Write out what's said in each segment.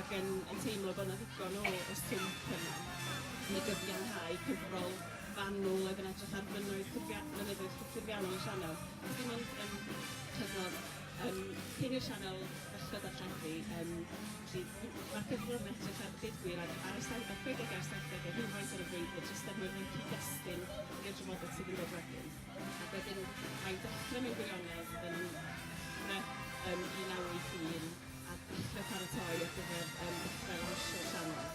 ac yn yn teimlo bod 'na ddigon o o swmp yna i gyfiawnhau cyfrol fanwl oedd yn edrych ar fynnoedd cyfia- mynyddoedd cyffuriannol y sianel. Dim ond yn cyfnod um, cyn i'r sianel ddechrau darlledu, um, felly mae'r cyfrol yn edrych ar ddigwyr ar, ar y 70au a'r 70au rhywfaint ar y frwydr, jyst er mwyn cyd-destun i'r drafodaeth sydd yn dod wedyn. Ac wedyn mae'n dechrau mewn gwirionedd yn Cymru um, 1981 a dechre paratoi ar gyfer yym dechre'r Anrhysiol Sianel.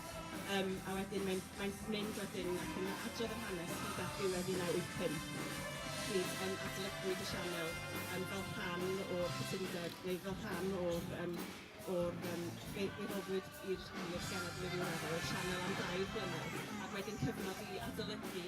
Yym a wedyn mae'n mae'n mynd wedyn ac yn adrodd yr hanes hyd at ddiwedd 1985. Pryd yym adolygu dy sianel yym fel rhan o'r cytundeb neu fel rhan o'r yym o'r yym fe fe roddwyd i'r i'r genedl i ryw radde o'r sianel am dair blynedd ac wedyn cyfnod i adolygu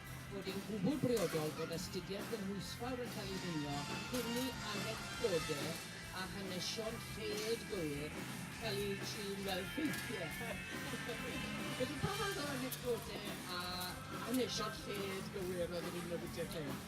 bod yn gwbl briodol bod astudiaeth gynhwysfawr yn cael ei ddringo cyn i anecdodau a hanesion lled gywir cael eu trin fel ffeithiau. Felly, pa fath o anecdodau a hanesion lled gywir oedd yn un o Richard Lled?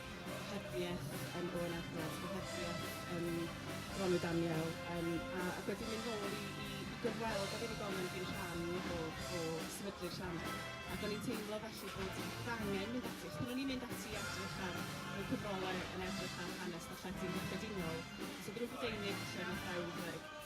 gohebiaeth yym o'r ardal gohebiaeth yym Gronw Daniel yym a ac wedi mynd nôl i i i gyfweld â'r unigolyn oedd yn rhan o o sefydlu'r sianel ac o'n i'n teimlo felly bod angen mynd ati achos pan o'n i'n mynd ati i edrych ar y cyfrolau yn edrych ar hanes darlledu yn gyffredinol so ddrwg y deunydd lle ma' brawddeg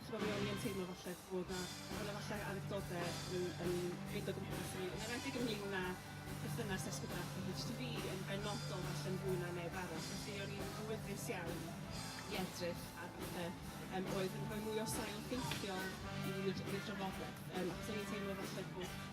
Ch'mod mi o'n i yn teimlo falle bod 'na bod 'na falle anecdode yn yn mynd o gwmpas i mi, yn enwedig ynglŷn â perthynas Esgobaeth a HTV yn benodol falle'n fwy na neb arall, felly o'n i'n wyddys iawn i edrych ar bethe yym oedd yn rhoi mwy o sail ffeithiol i'r i'r drafodaeth, yym achos o'n i'n teimlo falle bod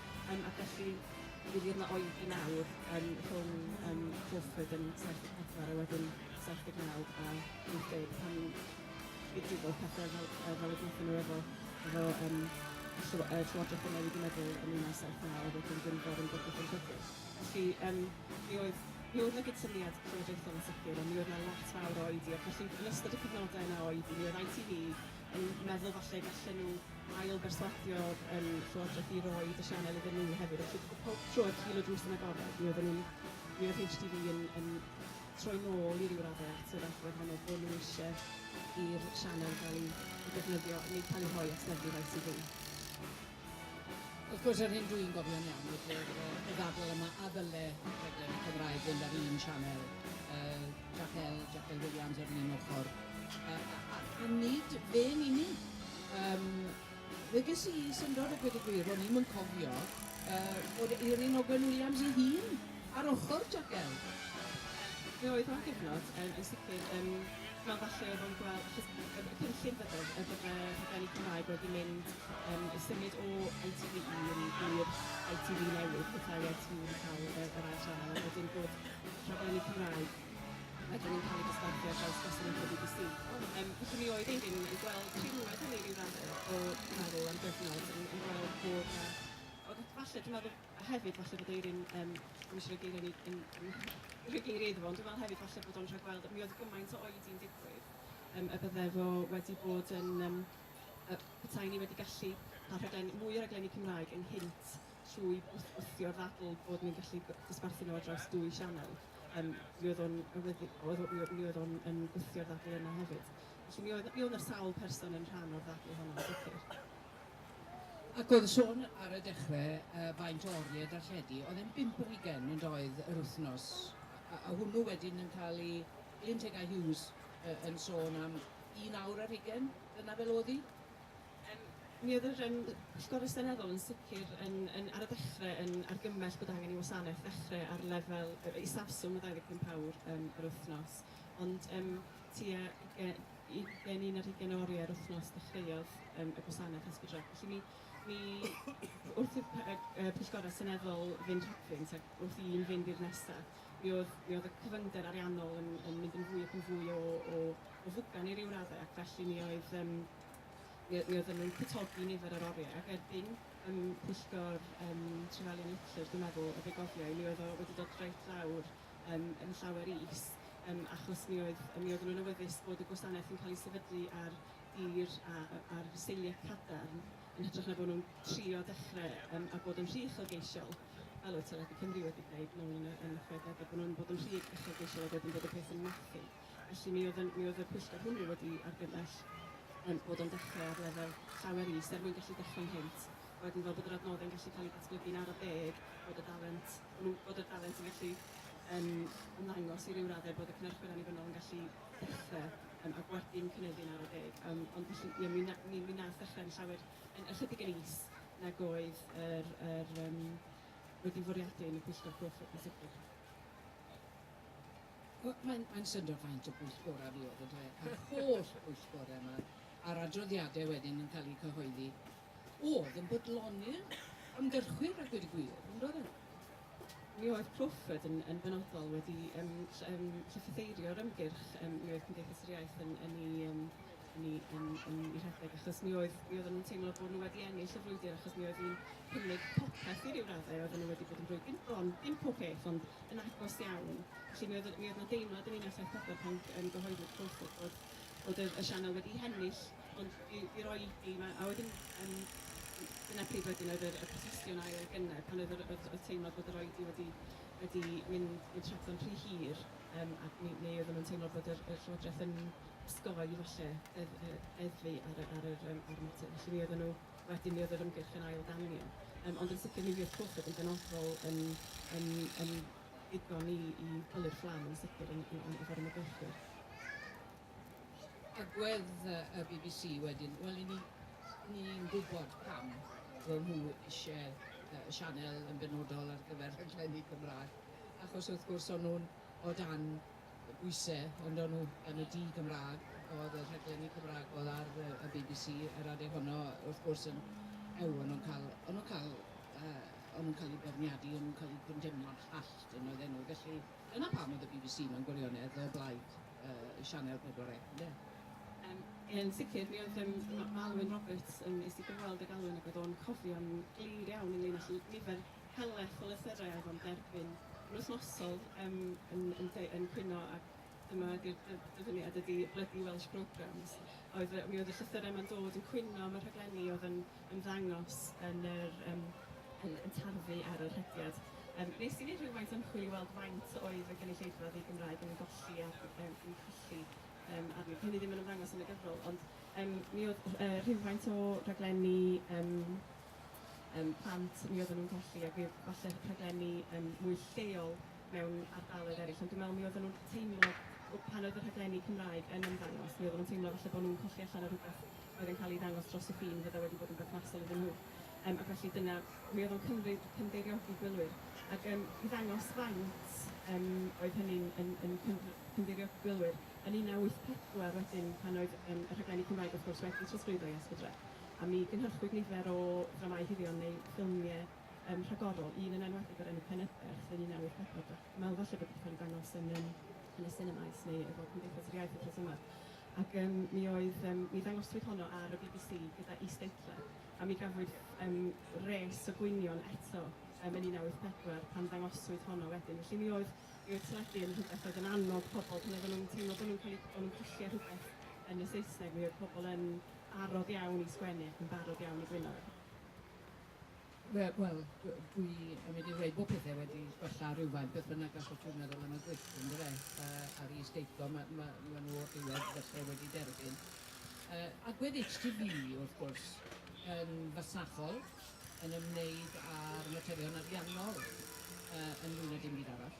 Yym ac felly mi fydd yna oedi mawr yym rhwng yym Guildford yn 74 a wedyn 79 a 80 pan fydd dim ond pethe fel yy fel y deutha nhw efo efo yym y llyw- yy Llywodraeth yn newid 'i meddwl yn 1979 a wedyn ddim bod yn bygwth yn bygwth. Felly yym mi oedd mi oedd 'na gydsyniad llywodraethol yn sicr ond mi oedd 'na lot fawr o oedi ac felly yn ystod y cyfnode yna o oedi mi oedd ITV yn meddwl falle gallen nhw ail berswadio yn Llywodraeth i roid y sianel iddyn nhw hefyd felly pob tro ar hil y drws yn agored mi oedden nhw'n mi oedd HTV yn yn troi nôl i ryw radde at yr agwedd honno bod nhw eisiau i'r sianel gael ei ei defnyddio neu cael ei rhoi at lefydd ITV. Wrth gwrs yr hyn dwi'n gofio'n iawn oedd yr yy y ddadl yma a ddyle rhaglen y Cymraeg fynd ar un sianel yy Jac El Jac El Williams ar un ochr yy a a a nid fe'n unig Yym, fe ges i syndod a gweud y gwir, ro'n i'm yn cofio yy fod Eiryn Ogwen Williams ei hun ar ochr Jagel! Fe oedd o'n gyfnod yym yn sicr yym fel falle oedd o'n gweld achos y y y cynllun fydodd yy bod y rhaglenni Cymraeg wedi mynd yym i symud o ITV un i'r ITV newydd, petae ITV wedi ca'l yy yr ail sianel ond wedyn bod rhaglenni Cymraeg Ydyn ni'n cael ei dosbarthu ar draws gwasanaethau bbc? Yym, pwy ni oedd yn yn gweld rhinwedd hynny ryw radde o meddwl am gyfnod yn, yn gweld bod na... Ond falle, dwi'n meddwl hefyd falle bod Eirin, um, ddim eisiau rhoi geiriau ni, yn, yn, rhoi geiriau iddo fo, ond dwi'n meddwl hefyd falle bod o'n rhagweld, mi oedd gymaint o oedi'n digwydd, um, y bydde fo wedi bod yn, um, y petai ni wedi gallu cael rhaglen, mwy o raglenni Cymraeg ynghynt trwy wthio ddadl bod ni'n gallu dosbarthu nhw ar draws dwy sianel, um, mi oedd o'n awyddus, oedd, mi, mi oedd o'n yn gwthio'r ddadl yna hefyd. Felly mi oedd, mi oedd sawl person yn rhan o'r ddadl honno, yn sicr. Ac oedd sôn ar y dechrau uh, faint o oriau darlledu, oedd e'n bimp yr ugen yn doedd yr wythnos, a, a hwnnw wedyn yn cael ei Elin Tegau Hughes uh, yn sôn am un awr ar ugen, dyna fel oedd hi? Yym, mi oedd yr yym Pwyllgor Seneddol yn sicr yn yn ar y dechrau yn argymell bod angen i wasanaeth ddechrau ar lefel yy isafswm o 25 awr yym yr wythnos, ond yym tua uge- ugain, un ar hugain o oriau'r wythnos dechreuodd yym y gwasanaeth Hesper Drug. Felly mi mi wrth i'r p- yy yy Pwyllgorau Seneddol fynd rhagddynt ac wrth i un fynd i'r nesa', mi oedd mi oedd y cyfyngder ariannol yn yn mynd yn fwy ac yn fwy o o o fugan i ryw raddau ac felly mi oedd yym Mi mi oedden nhw'n cwtogi nifer yr oriau ac erbyn ym pwyllgor ym Trevelyan Litlers dwi'n meddwl y fe gofiai mi oedd o wedi dod reit lawr ym yn llawer is ym achos mi oedd mi oedden nhw'n awyddus bod y gwasanaeth yn cael ei sefydlu ar dir a a a'r seiliau cadarn yn hytrach na bod nhw'n trio dechrau ym a bod yn rhy uchelgeisiol fel oedd Teledu Cymru wedi gwneud nôl yn y yn y chwedegau bod nhw'n bod yn rhy uchelgeisiol ac wedyn bod y peth yn methu. Felly mi oedd, mi oedd y pwyllgor hwnnw wedi argymell um, bod o'n dechrau ar lefel llawer is er mwyn gallu dechrau'n hynt. A wedyn fel bod yr adnoddau'n gallu cael eu datblygu'n araf deg, bod y dalent, bod y dalent yn gallu um, ymddangos i ryw raddau bod y cynhyrchwyr annibynnol yn gallu dechrau um, a gwerthu'n cynyddu'n araf deg. Um, ond felly, ie, mi, na, mi, mi nath yn llawer yn ychydig yn is nag oedd yr, yr, um, wedi fwriadu yn y pwyllgor cwch y pwyllgor. Wel, mae'n, mae'n syndod faint o bwyllgorau fuodd, ynde, a'r holl bwyllgorau 'ma, a'r adroddiadau wedyn yn cael eu cyhoeddi, oedd yn bodloni'r ymgyrchwyr a gweud y gwir, yn doedd e? Mi oedd Crawford yn, yn benodol wedi yym ll- yym llythytheirio'r ymgyrch, yym mi oedd Cymdeithas yr Iaith yn, yn ei yym yn ei yn yn ei rhedeg achos mi oedd mi oedden nhw'n teimlo bod nhw wedi ennill y frwydr achos mi oedd hi'n cynnig popeth i ryw raddau, oedden nhw wedi bod yn rhoi dim bron dim pob peth ond yn agos iawn. Felly mi oedd, mi oedd na deimlad yn Ninas Aeth Pedwar pan yn gyhoeddi'r twll bod, bod, bod y, y sianel wedi hennill, ond i, i roi i, ma, a wedyn um, dyna pryd wedyn oedd y, y prosesiwn ail gynnar, pan oedd yr, yr, y teimlad bod yr oedi wedi, wedi mynd, mynd trapdo'n rhy hir, um, a mi, mi oeddwn yn teimlo bod yr, y Llywodraeth yn osgoi falle edd, edd, eddfu ar, ar, ar, ar, ar mater. Felly mi oedden nhw Wedyn mi oedd yr ymgyrch yn ail danio. Yym ond yn sicr mi fuodd Crawford yn benodol yn yn yn ddigon i i pyllu'r fflam yn sicr yn yn yn efo'r ymgyrchwyr. Agwedd y bbc wedyn, wel 'yn ni ni'n gwybod pam fo' nhw isie yy y sianel yn benodol ar gyfer rhaglenni Cymraeg achos wrth gwrs o'n nhw'n o dan Oes-e, ond o'n nhw yn y du Gymraeg, oedd y rhaglenni Cymraeg oedd ar y y bbc yr adeg honno wrth gwrs yn ew o'n nhw'n cael o'n nhw'n cael yy o'n nhw'n cael eu beirniadu o'n nhw'n cael eu condemnio'n hallt yn oedden nhw felly dyna pam oedd y bbc mewn gwirionedd o blaid yy Sianel Pedwar Ec ynde? Yym yn sicr mi oedd yym ma- ma' Alun Roberts yym es i gyfweld ag Alun ac oedd o'n cofio'n glir iawn ynglŷn â lly- nifer Helaeth o lythyrau oedd o'n derbyn yn wythnosol yym yn yn de- yn cwyno ac dyma ydy'r dy- dyfyniad ydy bloody Welsh programmes oedd yy mi oedd y llythyrau ma'n dod yn cwyno am y rhaglenni oedd yn ymddangos yn yr yym yn yn tarfu ar y rhediad. Yym nes i neud rhywfaint o ymchwil i weld faint oedd y gynulleidfa ddi-Gymraeg yn ei golli ar yym yn ei cholli yym arni. 'di hynny ddim yn ymddangos yn y gyfrol ond yym mi oedd yy rhywfaint o raglenni yym yym plant, mi oedden nhw'n gallu, ac fydd falle rhaglenni yym mwy lleol mewn ardaloedd eraill, ond dwi'n meddwl mi oedden nhw'n teimlo w- pan oedd y rhaglenni Cymraeg yn ymddangos, mi oedden nhw'n teimlo falle bod nhw'n colli allan ar rywbeth oedd yn cael ei ddangos dros y ffin, fydde wedi bod yn berthnasol iddyn nhw. Yym, ac felly dyna, mi oedd o'n cymryd cynddeiriogi gwylwyr. Ac yym, i ddangos faint yym oedd hynny'n yn yn cyndr- cynddeiriogi gwylwyr, yn 1984 wedyn pan oedd yym y rhaglenni Cymraeg wrth gwrs wedi trosglwyddo i Esbyd Rec, a mi gynhyrchwyd nifer o ddramâu hirion neu ffilmiau yym rhagorol, un yn enwedig o'r enw Penyberth yn 1984, dach chi'n meddwl falle bod wedi cael ei ddangos yn yym yn y sinemas neu efo Cymdeithas yr Iaith wythnos yma, ac yym mi oedd yym mi ddangoswyd honno ar y bbc gyda is-deitlau, a mi gafwyd yym res o gwynion eto yym yn 1984 pan ddangoswyd honno wedyn. Felly mi oedd mi oedd teledu yn rhywbeth oedd yn annog pobl pan oedden nhw'n teimlo bod nhw'n cael eu... bod nhw'n colli ar rhywbeth yn y Saesneg, mi oedd pobl yn barod iawn i sgwennu ac yn barod iawn i blino fe? Wel, wel, dwi yn mynd i ddweud bod pethau wedi gwella rhywfaint, beth bynnag gallwch chi'n meddwl am y gwyllt, yn dweud, uh, a'r is-deitlo, mae ma, ma nhw o'r diwedd felly wedi derbyn. Uh, agwedd HTV, wrth gwrs, yn fasnachol, yn ymwneud â'r materion ariannol uh, yn fwy na dim byd arall.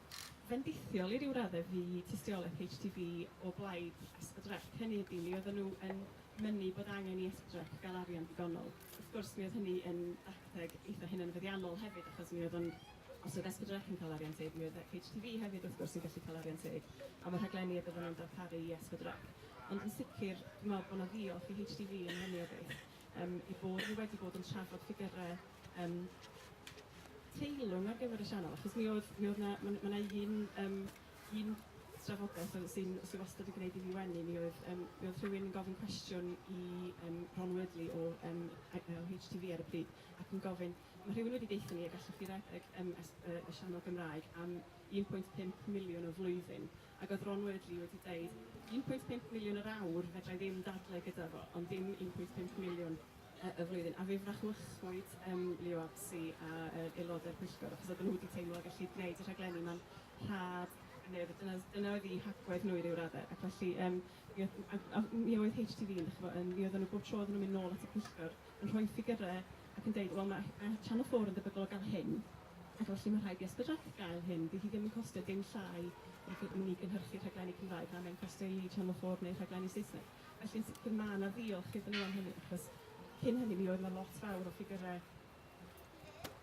fendithiol i ryw raddau fu tystiolaeth HTV o blaid SPDREC. Hynny ydi, mi oedden nhw yn mynnu bod angen i SPDREC gael arian digonol. Wrth gwrs, mi oedd hynny yn dacteg eitha' hunanfyddiannol hefyd, achos mi oedd o'n... os oedd SPDREC yn cael arian teg, mi oedd HTV hefyd, wrth gwrs, yn gallu cael arian teg am y rhaglenni a byddan nhw'n darparu i SPDREC. Ond yn sicr, dwi'n meddwl bod 'na ddiolch i HTV yn hynny o beth, yym, eu bod nhw wedi bod yn trafod ffigyrau Yym teilwng ar gyfer y sianel achos mi oedd mi oedd 'na ma' 'na ma' 'na un yym un drafodaeth oedd sy'n sy wastad yn gwneud i fi wenu mi oedd yym mi oedd rhywun yn gofyn cwestiwn i yym Ron Wordley o yym I- yy o HTV ar y pryd ac yn gofyn ma' rhywun wedi deutho ni y gallwch chi redeg yym es- yy y sianel Gymraeg am 1.5 miliwn y flwyddyn ac oedd Ron Wordley wedi deud 1.5 miliwn yr awr fedra i ddim dadlau gyda fo ond dim 1.5 miliwn y flwyddyn, a fe frachuchwyd ym LUABC a yr aelodau'r pwyllgor, achos oedden nhw wedi teimlo y gellid gwneud y rhaglenni ma'n rhad, neu dyna dyna oedd eu hagwedd nhw i ryw raddau, ac felly yym mi oedd a a mi oedd HTV yn dach ch'bo' yn mi oedden nhw bob tro oedden nhw'n mynd nôl at y pwyllgor yn rhoi ffigyrau ac yn deud wel ma' ma' Channel 4 yn debygol o gael hyn, ac felly ma' rhaid i SPDRAC gael hyn, 'di hi ddim yn costio dim llai na chi- i ni gynhyrchu rhaglenni Cymraeg na mae'n costio i Channel 4 wneud rhaglenni Saesneg. Felly, yn sicr, mae 'na ddiolch iddyn nhw am hynny, achos cyn hynny mi oedd 'na lot fawr o ffigyrau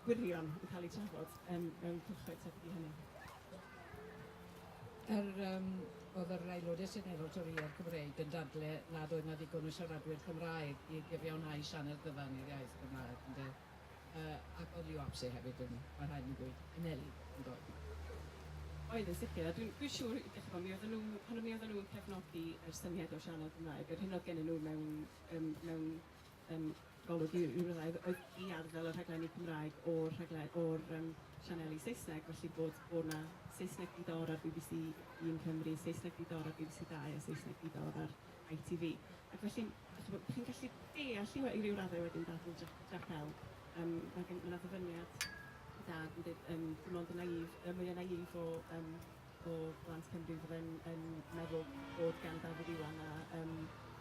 gwirion yn cael eu trafod yym mewn cylchoedd tebyg i hynny. Yr yym oedd yr Aelodau Seneddol Torïaidd Cymreig yn dadle nad oedd 'na ddigon o siaradwyr Cymraeg i gyfiawnhau sianel gyfan i'r iaith Gymraeg, ynde. ac oedd Ioabse hefyd yn, mae rhaid i mi ddweud, yn elyn, yn doedd? Oedd, yn sicr, a dwi'n, dwi'n siŵr, i ddechrau, mi oedden nhw, pan mi oedden nhw'n cefnogi yr syniad o sianel Gymraeg, yr hyn oedd gennyn nhw mewn, yym, mewn, yym, golwg i ryw raddau oedd oedd i arddel y rhaglenni Cymraeg o'r rhagle- o'r, yym, sianeli Saesneg, felly bod, bod 'na Saesneg di-dor ar bbc Un Cymru, Saesneg di-dor ar bbc Dau a Saesneg di-dor ar ITV. Ac felly, dach chi'n gwybod, dach chi'n gallu deall hi i ryw raddau wedyn, dadl Jac, Jac Bell. Yym, mae gen, mae 'na ddyfyniad i dad yn dweud, yym, dim ond y naïf, y mwya naïf o, yym, o blant Cymru fydd yn, yn meddwl bod gan Dafydd Iwan a, yym,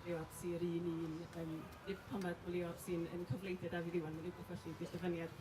Leo ap Zi yr un un, yym, nid pan mae Leo ap Zi yn cyfleidio Dafydd Iwan, mae rhywbeth felly, di'r dyfyniad.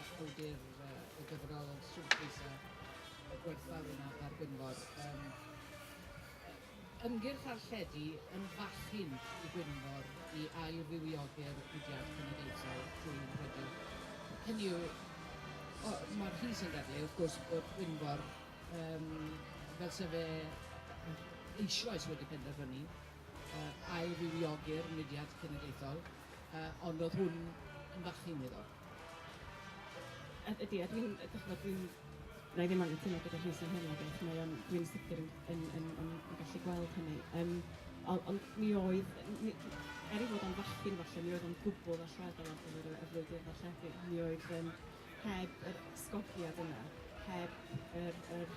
Ysbrydir y gyfrol yn swmpus a gwerthfawr yn Ab Argynfor. Yym, ymgyrch ar lledu yn fachyn i Gwynfor i ail-fywiog'r mudiad cenedlaethol trwy ymddygiad. Hynny yw, o, mae'r llys yn dadlau, wrth gwrs, bod Gwynfor, yym, fel se fe eisoes wedi penderfynu, uh, ail-fywiog'r mudiad cenedlaethol, uh, ond oedd hwn yn fachyn iddo. Yd- ydy a dwi'n yy d'ch'mod dwi'n wna i ddim anghytuno gyda Rhys yn hynny chwaith, mae o'n... Dwi'n sicr yn yn yn yn yn gallu gweld hynny. Yym o- ond mi oedd n- mi... er ei fod o'n fachgen falle mi oedd o'n gwbl allweddol ar gyfer y y frwydr ddarlledu. Mi oedd yym heb yr 'sgogiad yna, heb yr yr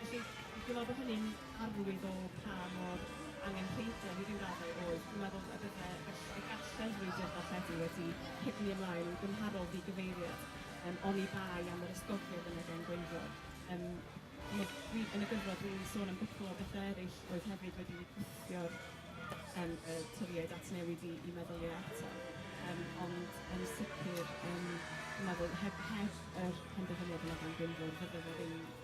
Felly, dwi'n meddwl bod hynny'n arwydd o pa mor angenrheidiol i ryw raddau oedd. Dwi'n meddwl y bydde... gall- y gallent frwydr darlledu wedi cipni ymlaen yn gymharol ddigyfeiriad yym oni bai am yr ysgogiad yna gan Gwenfro. Yym chimod, dwi... yn y gyfrol dwi'n sôn am gwpl o bethau eraill oedd hefyd wedi gwthio'r yym y Torïaid at newid i i meddyliau eto. Yym ond yn sicr yym dwi'n meddwl heb heb yr penderfyniad yna gan Gwenfro fydde fe ddim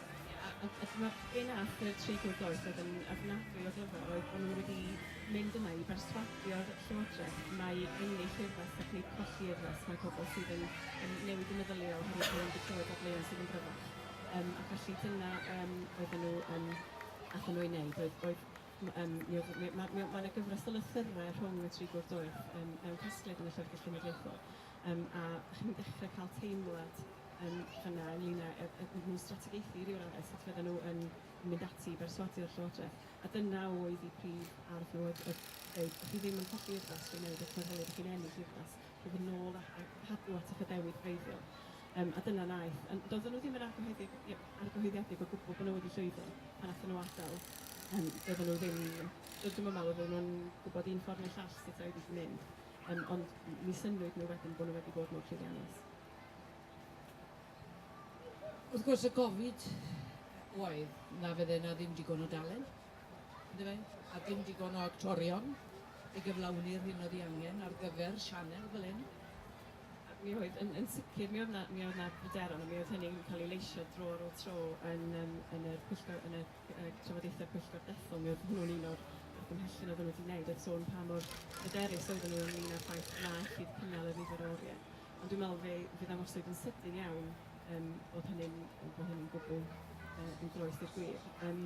A dyma'r gêm arall y treigl doeth oedd yn ofnadwy o glyfar oedd bod nhw wedi mynd yna i berswadio'r Llywodraeth mai ennill urddas ac nid colli urddas mae pobl sydd yn yn newid y meddylia oherwydd bod nhw wedi clywed dadleuon sydd yn gryfach yym a felly dyna yym oedden nhw yn aethon nhw i wneud oedd oedd m- yym mi oedd mi ma' mi o- ma' 'na gyfres o lythyrau rhwng y treigl doeth yym mewn casgliad yn y Llyfrgell Genedlaethol. yym a chi'n dechre ca'l teimlad yym fyn 'na ynglŷn â yy yy iddyn nhw strategaethu i ryw radde sut fydden nhw yn yn mynd ati i berswadio Llywodraeth a dyna oedd eu prif arf nhw oedd oedd deud dach chi ddim yn colli urddas drwy newid eich meddyliau dach chi'n ennill urddas drwy fod yn ôl a a cadw at eich addewid gwreiddiol yym a dyna naeth ond doedden nhw ddim yn argyhoeddig i- argyhoeddiedig o gwbwl bod nhw wedi llwyddo pan nathon nhw adel yym doedden nhw ddim do- dwi'm yn meddwl oedden nhw'n gwbod un ffor neu'r llall sut oedd i mynd. Yym, ond mi synnwyd nhw wedyn bod nhw wedi bod mor llwyddiannus. Wrth gwrs, y gofid oedd na fydde yna ddim digon o dalen, ynde fe? A ddim digon o actorion i gyflawni'r hyn oedd ei angen ar gyfer sianel fel hyn. Mi oedd, yn, yn sicr, mi oedd 'na, mi oedd 'na bryderon, a mi oedd hynny'n cael ei leisio dro ar ôl tro yn, yn, yn yr pwyllgor, yn y y trafodaethau pwyllgor dethol, mi oedd hwnnw'n un o'r argymhellion oedden nhw wedi wneud, oedd sôn pa mor hyderus oedden nhw ynglyn â'r ffaith na ellid cynnal y nifer o oriau. Ond dwi'n meddwl fe, fe ddangoswyd yn sydyn iawn um, bod hynny'n bod hynny'n gwbl uh, yn groes i'r gwir. Um,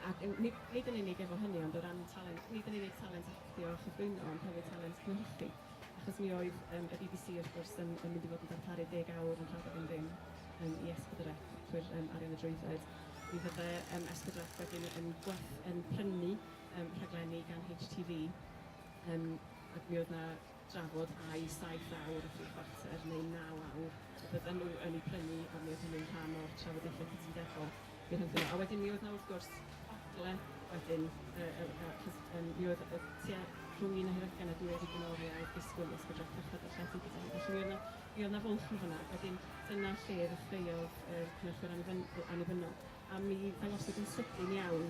ac yn, nid, nid yn unig efo hynny, ond o ran talent, nid yn unig talent actio a chyflwyno, ond hefyd talent cynhyrchu. Achos mi oedd um, y BBC wrth gwrs yn, yn mynd i fod yn darparu deg awr yn rhagor yn ddim um, i esbyd yr trwy'r um, arian y drwydded. Mi fydde um, Esbydrell wedyn yn, gweth, yn prynu um, rhaglenni gan HTV um, ac mi oedd na drafod ai 7 awr a 3 chwarter neu 9 awr y bydden nhw yn ei prynu ond mi oedd hynny'n rhan o'r trafodaethau cytundebol mi rhynthyn nhw. A wedyn mi oedd na wrth gwrs ogle wedyn, uh, uh, uh, um, mi oedd uh, tua rhwng un a hiragan a dwy wedi gynoriau disgwyl i ysbrydreth cychod y llety gyda hi. Felly mi oedd na Mi oedd 'na fwlch yn fanna. Wedyn dyna lle ddechreuodd yr cynhyrchwyr annibynnol yy annibynnol a mi ddangosodd yn sydyn iawn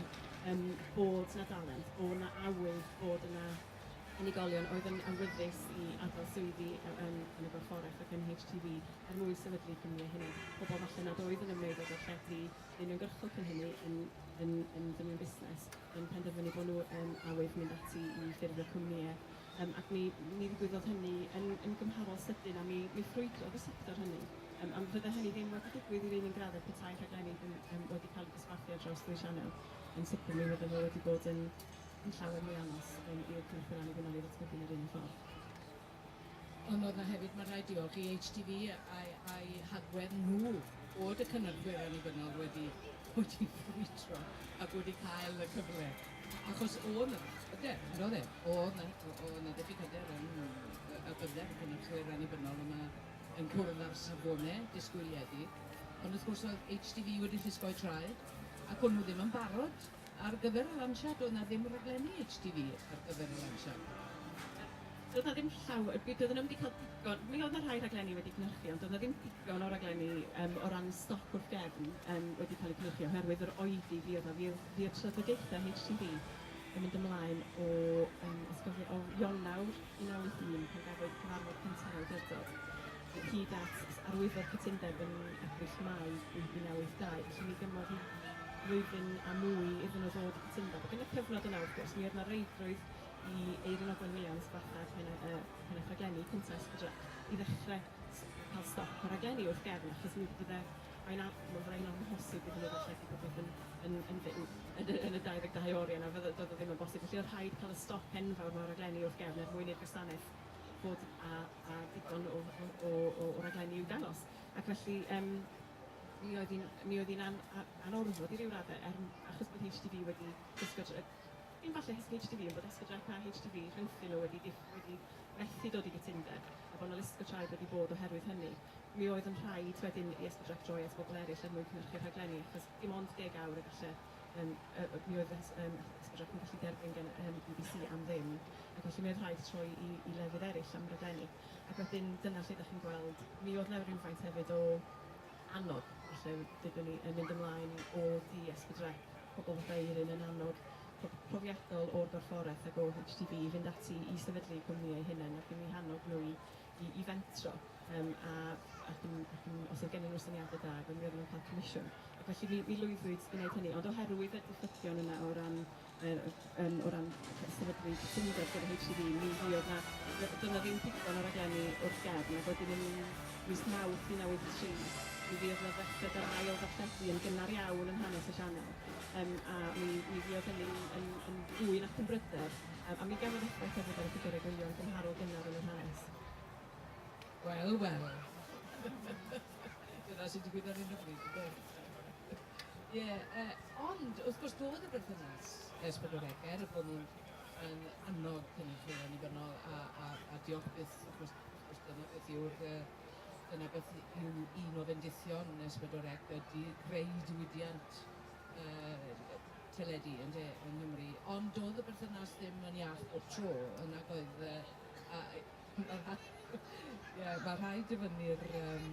yym bod 'na dalent, bo' 'na awydd, bod yna unigolion oedd yn awyddus i adael swyddi yy yn yn y gorfforaeth ac yn HTV er mwyn sefydlu cwmni eu hunain. Pobl falle nad oedd yn ymwneud â gweithredu neu'n uniongyrchol cyn hynny yn yn yn ddynion busnes yn penderfynu bo' nhw yn awydd mynd ati i ffurfio cwmnïe. Yym, ac mi mi ddigwyddodd hynny yn yn gymharol sydyn, a mi mi ffrwydrodd y sector hynny. Yym, ond fydde hynny ddim wedi digwydd i'r un un gradded petai'r rhaglenni ddim yn wedi cael eu dosbarthu ar draws ddwy sianel. Yn sicr, mi fydde fo wedi bod yn yn llawer mwy anodd yym i'r cynrychiol annibynnol ei ddatblygu yn yr un un ffordd. Ond oedd 'na hefyd, mae'n rhaid diolch i HTV a'i a'i hagwedd nhw bod y cynyrchwyr annibynnol wedi wedi ffrwydro ac wedi cael y cyfle. Achos oedd 'na hyder, yn doedd e? Oedd 'na, oedd 'na ddiffyg hyder yn y bydder ac yn y clwyr annibynnol yma yn cwrdd â'r safone disgwyliedig. Ond wrth gwrs oedd HTV wedi llusgo'u traed ac o'n nhw ddim yn barod ar gyfer y lansiad, oedd 'na ddim rhaglenni HTV ar gyfer y lansiad. Doedd 'na ddim llaw- yy doedden nhw ddim 'di cael digon. Mi oedd 'na rhai rhaglenni wedi cynhyrchu ond doedd 'na ddim digon o raglenni yym o ran stoc wrth gefn yym wedi cael eu cynhyrchu oherwydd yr oedi fuodd 'na. Fuodd fuodd trafodaethau HTV yn mynd ymlaen o yym os cofi- o Ionawr 1981 pan gafwyd cyfarfod cynta'r awdurdod hyd at s- arwyddo'r cytundeb yn Ebrill, Mai 1982. Felly mi gymodd hi flwyddyn a mwy iddyn nhw ddod i gytundeb ac yn y cyfnod yna wrth gwrs mi oedd 'na reidrwydd i Eiryn a Dan Williams, bachgen hyn y hyn y rhaglenni cynta Ysbydra, i ddechrau cael stop y rhaglenni wrth gefn, achos mi bydde mae'n am, mae'n rhaid o'n hosib iddyn nhw ddarlledu popeth yn, yn, yn, yn, yn, y, yn y 22 oriau yna, fydde, doedd o ddim yn bosib. Felly oedd rhaid cael y stop enfawr mewn rhaglenni wrth gefn er mwyn i'r gwasanaeth bod a, a digon o, o, o, o, o raglenni i'w dangos. Ac felly, um, mi oedd hi'n an, anorfod i ryw raddau, er, achos bod HTV wedi gwisgo Cyn falle hysbyg HTV ein bod esgydrau tai HTV rhyngthyn nhw wedi wedi methu dod i gytundeb a bod 'na list o traed wedi bod oherwydd hynny. Mi oedd yn rhaid wedyn i esgydrau droi at bobl eraill er mwyn cynhyrchu'r rhaglenni achos dim ond deg awr y galle yym yy mi oedd fy hys- yym esgydrau yn gallu derbyn gan y yym bbc am ddim ac felly mi oedd rhaid troi i i lefydd eraill am raglenni ac wedyn dyna lle 'da chi'n gweld mi oedd 'na rywfaint hefyd o annog, felly dydyn ni yn mynd ymlaen i o dies fedra pobl fatha Eirin yn annog pro- profiadol o'r gorfforaeth ac o HTB i fynd ati i sefydlu eu cwmni eu hunain ac yn eu hannog nhw i i i fentro yym a ac yn ac yn os oedd gennyn nhw syniadau da ac oedden nhw ddim yn cael comisiwn ac felly mi mi lwyddwyd i wneud hynny ond oherwydd y diffygion yna o ran Yy yym o ran y sefydlu cytundeb gyda HCD mi fuodd 'na... D- doedd 'na ddim digon o raglenni o'r gefn ac wedyn yn mis Mawrth 1983 mi fuodd 'na ddechrau yr ail ddarlledu yn gynnar iawn yn hanes y sianel yym a mi mi fuodd hynny yn yn fwy na chymrydedd yym a mi gafodd effaith hefyd ar y ffigyrau gwyliau gymharol gynnar yn yr hanes. Wel, wel. Dyna sy'n digwydd ar hyn o bryd, ynde? Ie, yy, ond wrth gwrs doedd y berthynas ers pedwar deg, er y bod nhw'n yn annog cynulleidfa annibynnol a a a diolch byth wrth gwrs wrth gwrs dyna beth yw'r yy dyna beth y- yw un o fendithion ers pedwar deg ydi creu diwydiant yy yy teledu ynde yng Nghymru ond doedd y berthynas ddim yn iach bob tro yy nag oedd yy a yy Ie, mae rhai dyfynnu'r yym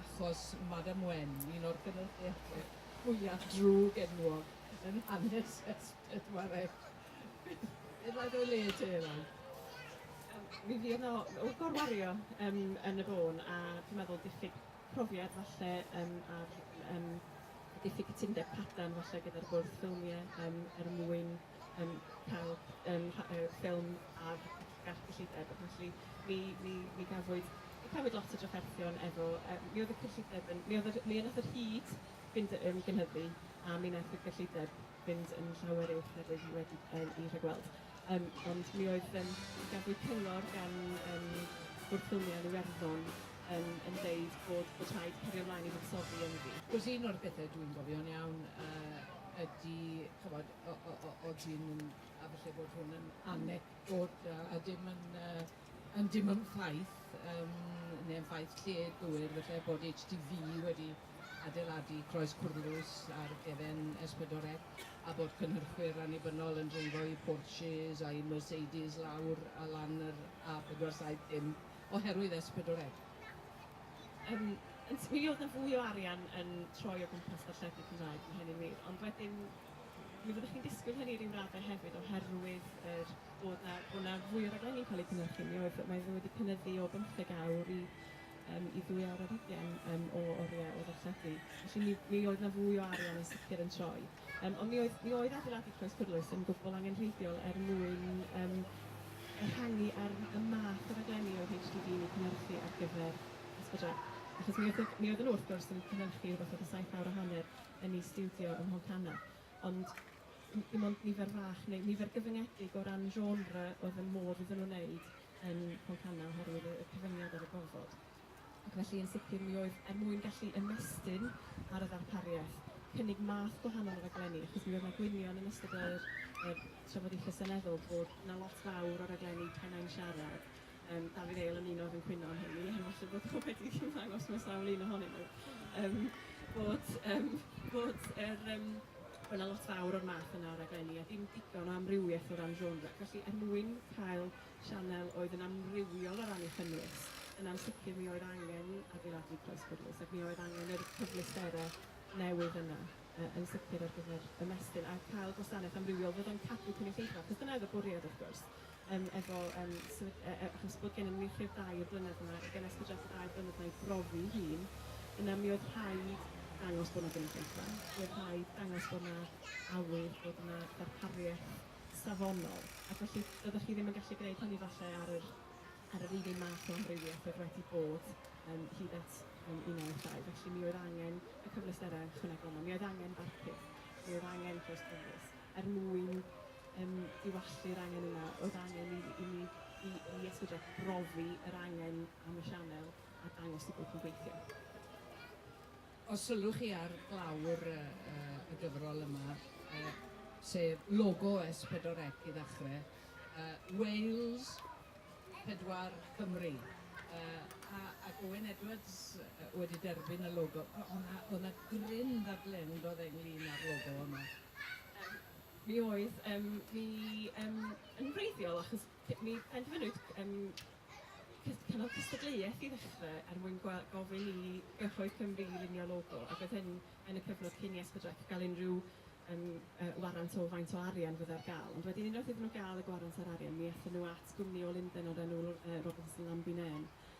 achos Madam Wen, un o'r gynulleidfaoedd fwyaf drwg enwog yn hanes S4C. Beth ddau dy le te nawr? Yym mi fuodd o o gorwario yym yn y bôn a dwi'n meddwl diffyg profiad falle yym a'r yym diffyg cytundeb cadarn falle gyda'r bwrdd ffilmie yym er mwyn yn cael yym rha- yy ffilm ar garth cyllideb ac felly mi mi mi gafwyd mi cafwyd lot o drafferthion efo yy mi oedd y cyllideb yn mi oedd yr mi wnaeth yr hud fynd yy yn gynyddu a mi wnaeth y gyllideb fynd yn llawer uwch nag oedd hi wedi yym 'i rhagweld yym ond mi oedd yym mi gafwyd cyngor gan yym Bwrdd Ffilmiau yn Iwerddon yn yn deud bod bod rhaid cario mlaen i fuddsoddi ynddi. Wrth gwrs un o'r pethe dwi'n gofio'n iawn yy ydi ch'mod O- o- o- o- odi yn yn... A falle bod hwn yn anecdote a dim yn yy yn dim yn ffaith yym neu yn ffaith lled-gywir falle bod HTV wedi adeiladu Croes Cwrlws ar gefen S4C a bod cynhyrchwyr annibynnol yn dreifo eu Porches a'u Mercedes lawr a lan yr A470 oherwydd S4C. Yym yn syml, oedd 'na fwy o arian yn troi o gwmpas darlledu Cymraeg, mae hynny'n wir, ond wedyn, Mi fyddwch chi'n disgwyl hynny ryw raddau hefyd oherwydd yr bod 'na bod 'na fwy o raglenni'n cael eu cynhyrchu. Mi oedd... mae fe wedi cynyddu o bymtheg awr i yym i ddwy awr ar hugain yym o oriau o ddarlledu. Felly mi mi oedd 'na fwy o arian yn sicr yn troi. Yym ond mi oedd mi oedd adeiladu Croes Pwrlwys yn gwbl angenrheidiol er mwyn yym ehangu ar y math o raglenni oedd HDD yn eu cynhyrchu ar gyfer Ysbyty Dref. Achos mi oedd y mi oedden nhw wrth gwrs yn cynhyrchu rywbeth fatha saith awr a hanner yn ei stiwdio ym Mhontana, ond m- dim ond nifer fach neu nifer gyfyngedig o ran genre oedd yn modd iddyn nhw wneud yn Mhontana oherwydd y y cyfyngiad ar y gofod. Ac felly yn sicr mi oedd, er mwyn gallu ymestyn ar y ddarpariaeth, cynnig math gwahanol o raglenni, achos mi oedd 'na gwynion yn ystod yr yr trafodaethau seneddol bod 'na lot fawr o raglenni Pennau'n Siarad Yym Dafydd Eil yn uno efo'n cwyno am hynny, a falle bod o wedi ymddangos mewn sawl un ohonyn nhw, yym bod yym bod yr yym... bod 'na lot fawr o'r math yna o raglenni a dim digon o amrywiaeth o ran genre. Felly er mwyn cael sianel oedd yn amrywiol o ran ei chynnwys, yn ansicr mi oedd angen adeiladu croes cyfrwys ac mi oedd angen yr cyfleusterau newydd yna yy yn sicr ar gyfer ymestyn a cael gwasanaeth amrywiol fod o'n cadw cynulleidfa, achos dyna oedd y bwriad wrth gwrs. yym efo yym sefyll- yy yy achos bod gennym ni lle dair blynedd yma i gynnwys buddiant y dair blynedd 'na i brofi 'i hun, yna mi oedd rhaid dangos bod 'na gynulleidfa, mi oedd rhaid dangos bod 'na awydd, bod 'na ddarpariaeth safonol, ac felly doeddech chi ddim yn gallu gwneud hynny falle ar yr ar yr un un math o amrywiaeth oedd wedi bod yym hyd at yym 1992, felly mi oedd angen y cyfleusterau ychwanegol 'ma, mi oedd angen barcud, mi oedd angen closed borders. er mwyn yym diwallu'r angen yna o'dd angen i i ni i i esbydol brofi yr angen am y sianel a dangos y bod yn gweithio. Os sylwch chi ar glawr y y y gyfrol yma yy sef logo S pedwar Ec i ddachre yy Wales pedwar Cymru yy a ac Owen Edwards yy wedi derbyn y logo o- o' 'na o' 'na gryn ddadlen do'dd e ynglyn â'r logo yma. Mi oedd mi yn wreiddiol achos mi benderfynwyd cynnal cystadleuaeth i ddechrau er mwyn gofyn i gyhoedd Cymru i lunio logo ac oedd hyn yn y cyfnod cyn i Esbydrec gael unrhyw warant o faint o arian fyddai ar gael ond wedyn unwaith iddyn nhw gael y gwarant a'r arian mi aethon nhw at gwmni o Lundain o'r enw Robertson Lamb y Name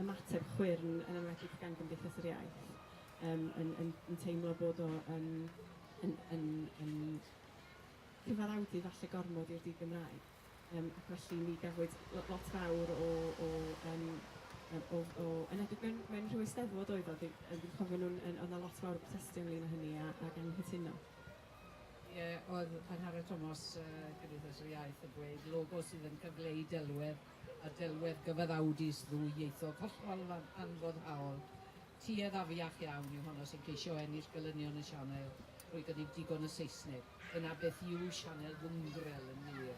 ymateb chwyrn, yn enwedig gan Gymdeithas yr Iaith, yym yn yn yn teimlo bod o yn yn yn yn cyfaddawdu falle gormod i'r di-Gymraeg. Yym ac felly mi gafwyd lo- lot fawr o o yym yy o o yn enwedig mewn mewn rhyw Eisteddfod oedd o dwi yy dwi'n cofio nhw'n yn o'dd 'na lot fawr o brotestio ynglŷn â hynny a ag anghytuno. Ie, o'dd Angharad Tomos, yy Cymdeithas yr Iaith yn dweud logo sydd yn cyfleu delwedd a delwedd gyfaddawdus ddwyieithog hollol anfoddhaol, tuedd afiach iawn yw honno sy'n ceisio ennill gelynion y sianel drwy gynnig digon o Saesneg. Dyna beth yw sianel Gwngwrel yn wir.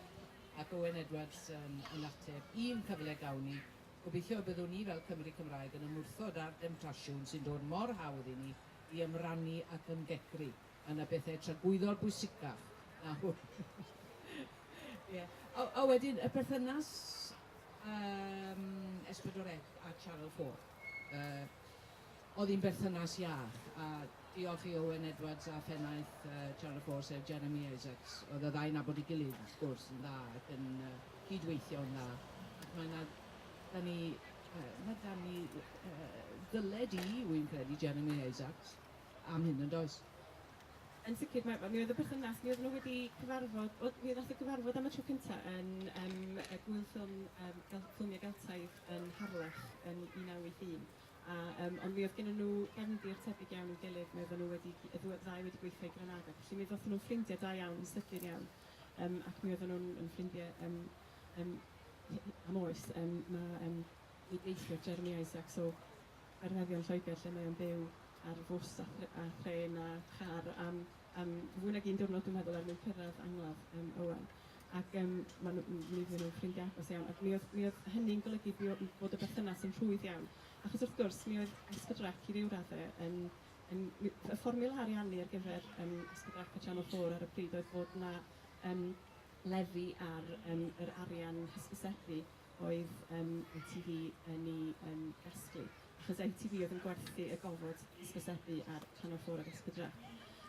Ac Owen Edwards yn yn ateb, Un cyfle gawn ni, gobeithio y byddwn ni fel Cymry Cymraeg yn ymwrthod â'r demtasiwn sy'n dod mor hawdd i ni i ymrannu ac ymgegru. A 'na bethe tragwyddol bwysicach na hwn. Ie. A a wedyn y perthynas yym S4C a Channel 4. Yy oedd hi'n berthynas iach a diolch i Owen Edwards a phennaeth yy Channel 4 sef Jeremy Isaacs oedd y ddau'n nabod ei gilydd wrth gwrs yn dda ac yn yy cyd-weithio'n dda ac mae 'na 'da ni yy ma' 'da ni yy ddyled i wi'n credu Jeremy Isaacs am hyn yn does? Yn sicr, mae, mi oedd y perthynas, mi oedd nhw wedi cyfarfod, oedd, mi oedd y gyfarfod am y tro cyntaf yn um, y gwyl ffilm, um, gel, ffilmiau Geltaidd yn Harlech yn 1981. A, um, ond mi oedd gen nhw gefndir tebyg iawn i'w gilydd, mi oedd nhw wedi, y ddau wedi gweithio i Granada, felly mi ddoth nhw'n ffrindiau da iawn yn sydyn iawn, um, ac mi oedd nhw'n yn ffrindiau um, um, am oes, um, mae um, i deithio Jeremy Isaacs o anghenion Lloegr lle mae o'n byw ar fws a thr- a thrên a char am am fwy nag un diwrnod dwi'n meddwl er mwyn cyrraedd angladd yym Owen ac yym ma' nw m- mi oedden nhw'n ffrindiau agos iawn ac mi oedd mi oedd hynny'n golygu bu- m- bod y berthynas yn rhwydd iawn achos wrth gwrs mi oedd Escadrak i ryw radde yn yn mi- y fformiwla ariannu ar gyfer yym Escadrak a Channel 4 ar y pryd oedd bod 'na yym lefi ar yym yr arian hysbysebu oedd yym ITV yn ei yym gasglu, achos ITV oedd yn gwerthu y gofod hysbysebu ar Channel 4 ac Espadra.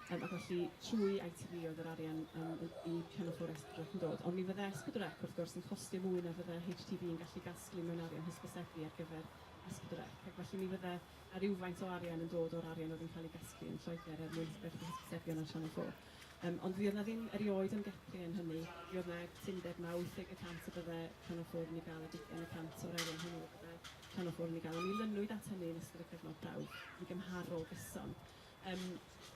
Yym ac felly trwy ITV oedd yr arian yym yn i Channel 4 Espadra yn dod. Ond mi fydde Espadra ac wrth gwrs yn costio mwy na fydde HTV yn gallu gasglu mewn arian hysbysebu ar gyfer Espadra. Ac felly mi fydde 'na rywfaint o arian yn dod o'r arian oedd yn cael ei gasglu yn Lloegr er mwyn gwerthu hysbysebion ar Channel 4. Yym, ond fuodd 'na ddim erioed ymgeplu yn hynny. Mi oedd 'na gytundeb na wytheg y cant y bydde Llanwchwr yn ei gael a deugain y cant o'r arian hwnnw y bydde Llanwchwr yn ei gael, a mi lynwyd at hynny yn ystod y cyfnod prawf, yn gymharol gyson. Yym,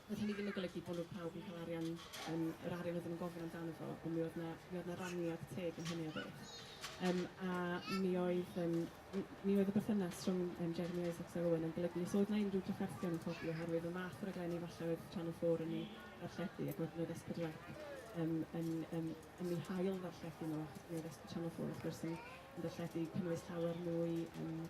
doedd hynny ddim yn golygu bod nhw pawb yn cael arian, yym, yr arian oedden nhw'n gofyn amdano fo, ond mi oedd 'na, mi oedd 'na raniad teg yn hynny o beth. Yym, a mi oedd, yym, Mi oedd y berthynas rhwng um, Jeremy Isaacs a Rowan yn golygu nes oedd na unrhyw drafferthion yn codi oherwydd y math o raglenni falle oedd Channel 4 yn ei ddarlledu ac wedyn oedd S4C um, yn, um, yn ei hail ddarlledu nhw achos mi oedd S4C Channel 4 wrth gwrs yn, yn darlledu cynnwys llawer mwy um,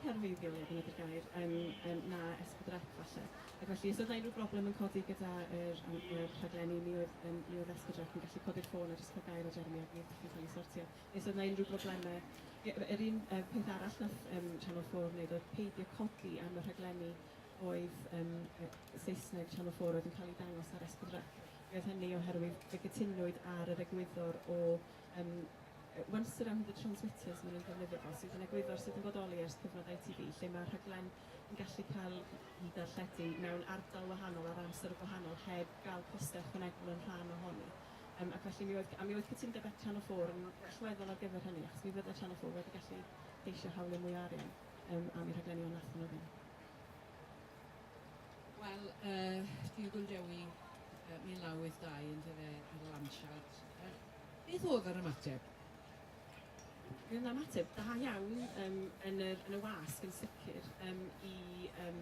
cerfeiddiol, ie, dyna di'r gair, um, um, na esbydrec falle. Ac felly, os oedd unrhyw broblem yn codi gyda'r er, er rhaglenni, mi oedd, um, mi oedd esbydrec yn gallu codi'r ffôn a jyst cael gair o Jeremy ac mi oedd pethau'n cael ei sortio. Os oedd 'na unrhyw broblemau, yr yr un yym peth arall wnaeth yym Channel 4 wneud oedd peidio codi am y rhaglenni oedd yym yy Saesneg Channel 4 oedd yn cael eu dangos ar S4C. Mi oedd hynny oherwydd fe gytunwyd ar yr egwyddor o yym yy once around the transmitters maen nhw'n defnyddio fo, sydd yn egwyddor sydd yn bodoli ers cyfnod ITV lle mae'r rhaglen yn gallu cael ei darlledu mewn ardal wahanol ar amser gwahanol heb gael costau ychwanegol yn rhan ohoni. Yym ac felly mi oedd g- a mi oedd cytundebau Channel 4 yn allweddol ar gyfer hynny achos mi fydde Channel 4 wedi gallu geisio hawlio mwy o arian yym am eu rhaglenni ond nathon nhw ddim. Wel yy Dilgwn Dewi yy 1982 yndyfe ar y lansiad yy beth oedd yr ymateb? Mi oedd 'na ymateb da iawn yym yn yr yn y wasg yn sicr yym i yym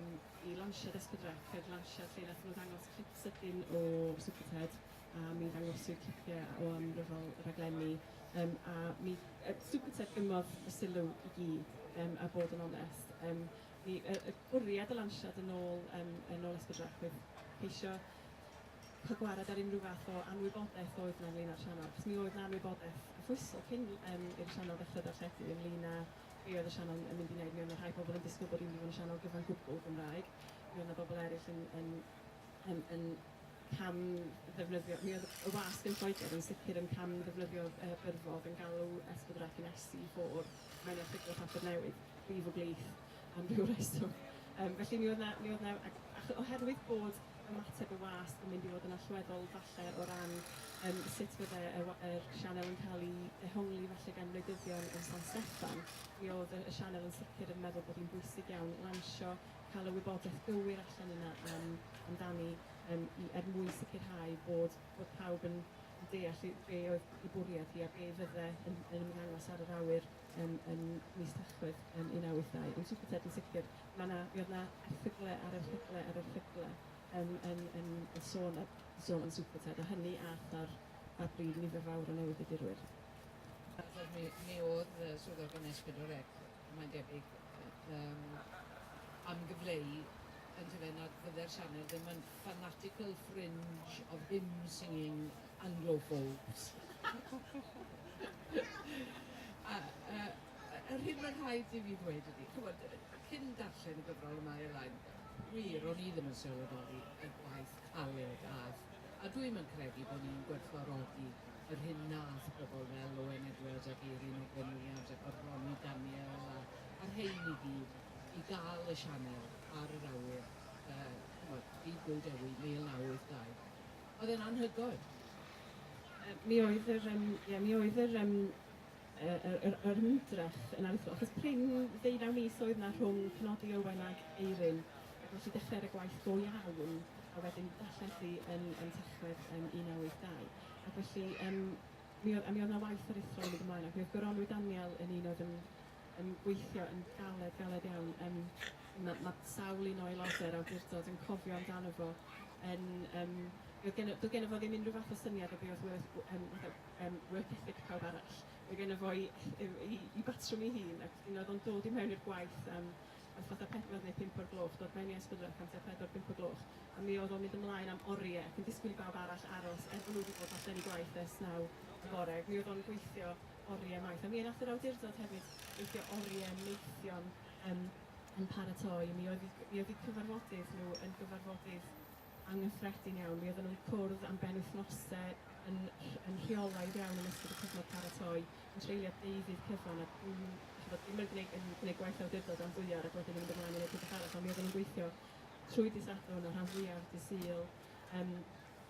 i lansiad S4C yr lansiad lle nathon nhw ddangos clip sydyn o Superted. a mi ddangosir clipiau o amryfal raglenni yym a mi yy Super Tech gymmodd y sylw i gyd yym a bod yn onest yym mi yy y bwriad o lansiad yn ôl yym yn ôl Esbydwrach oedd ceisio cael gwared ar unrhyw fath o anwybodaeth oedd 'na ynglyn â'r sianel achos mi oedd 'na anwybodaeth arfoesol cyn yym i'r sianel ddechrau darlledu ynglyn â be oedd y sianel yn yn mynd i wneud, mi oedd 'na rhai pobl yn disgwyl bod hi'n mynd i fod yn sianel gyfan gwbl Gymraeg, mi oedd 'na bobl eraill yn yn yym yn cam ddefnyddio... Mi oedd y wasg yn Lloegr yn sicr yn cam ddefnyddio yy byrddod yn galw Esbydwraeth yn SC4 mewn erthygl y Papur Newydd, brif o blith am ryw reswm. Yym felly mi oedd 'na mi oedd 'na ac ac oherwydd bod ymateb y wasg yn mynd i fod yn allweddol falle o ran yym sut fydde y wa- yr sianel yn cael ei ddehongli falle gan wleidyddion yn San Steffan, mi oedd y y sianel yn sicr yn meddwl bod hi'n bwysig iawn lansio cael y wybodaeth gywir allan yna am amdani yym i er mwyn sicrhau bod bod pawb yn yn deall i- be' oedd 'i bwriad hi a be' fydde yn yn ymddangos ar yr awyr yym yn mis Tachwedd yym un naw wyth dau. Yn Super Ted yn sicr ma' 'na mi o'dd 'na erthygle ar erthygle ar erthygle yym yn yn yn sôn a- sôn am Super Ted a hynny a'th ar ar bryd nifer fawr o newyddiadurwyr. Achos mi mi o'dd yy swyddogion Esbid o Rec mae'n debyg, yym, am gyfleu, yndyfe, nad fydde'r sianel ddim yn fanatical fringe of hymn-singing Anglophobes. A, yy, yr hyn mae'n rhaid i fi ddweud ydi, chimod, cyn darllen y gyfrol yma Aer Lain, wir, o'n i ddim yn sylweddoli y gwaith caled a'th, a dwi'm yn credu bo' ni'n gwerthfawrogi yr hyn wnaeth bobl fel Owen Edwards ac Eiryn Ogwen Williams ac oedd Ronnie Daniel a, a'r rhein i gyd, i gael y sianel ar yr awyr, yy, ch'mod, Byd Go Dewi, 1982. Oedd e'n anhygoel. Yy mi oedd yr yym ie mi oedd yr yym yy yr yr yr ymdrech yn anhygoel achos prin ddeunaw mis oedd 'na rhwng penodi Owen ag Eiryn ac nes i dechrau ar y gwaith go iawn a wedyn darllen thi yn yn Tachwedd yn 1982. Ac felly, yym, mi oedd... a mi oedd 'na waith aruthrol yn mynd ymlaen, ac mi oedd goronwy Daniel yn un oedd yn yn gweithio yn galed, galed iawn. Yym, ma' ma' sawl un o aelodau'r awdurdod yn cofio amdano fo yn... Yym, mi oedd geno... doedd geno fo ddim unrhyw fath o syniad o be oedd worth w- yym fatha yym work ethic pawb arall. Oedd geno fo'i eth- yw 'i 'i batrwm ei hun, ac un oedd o'n dod i mewn i'r gwaith am Wrth fatha pedwar neu pump o'r gloch dod mewn i Esbydwrth amser pedwar pump o gloch a mi oedd o'n mynd ymlaen am orie ac yn disgwyl i bawb arall aros er bod nhw wedi bod allan i gwaith ers naw y bore ac mi oedd o'n gweithio orie maith a mi nath yr awdurdod hefyd weithio orie maethion yym yn paratoi a mi oedd i mi oedd i cyfarfodydd nhw yn gyfarfodydd anghyffredin iawn mi oedden nhw'n cwrdd am benwythnose yn rh- yn rheolaidd iawn yn ystod y cyfnod paratoi yn treulio deuddydd cyfan a dwi'n, dych ch'bod, ddim yn gwneud yn gwneud gwaith awdurdod am ddwy awr ac wedyn yn mynd ymlaen i wneud rhywbeth arall, ond mi oedden nhw'n gweithio trwy dydd Sadwrn a'r rhan fwyaf dydd Sul, yym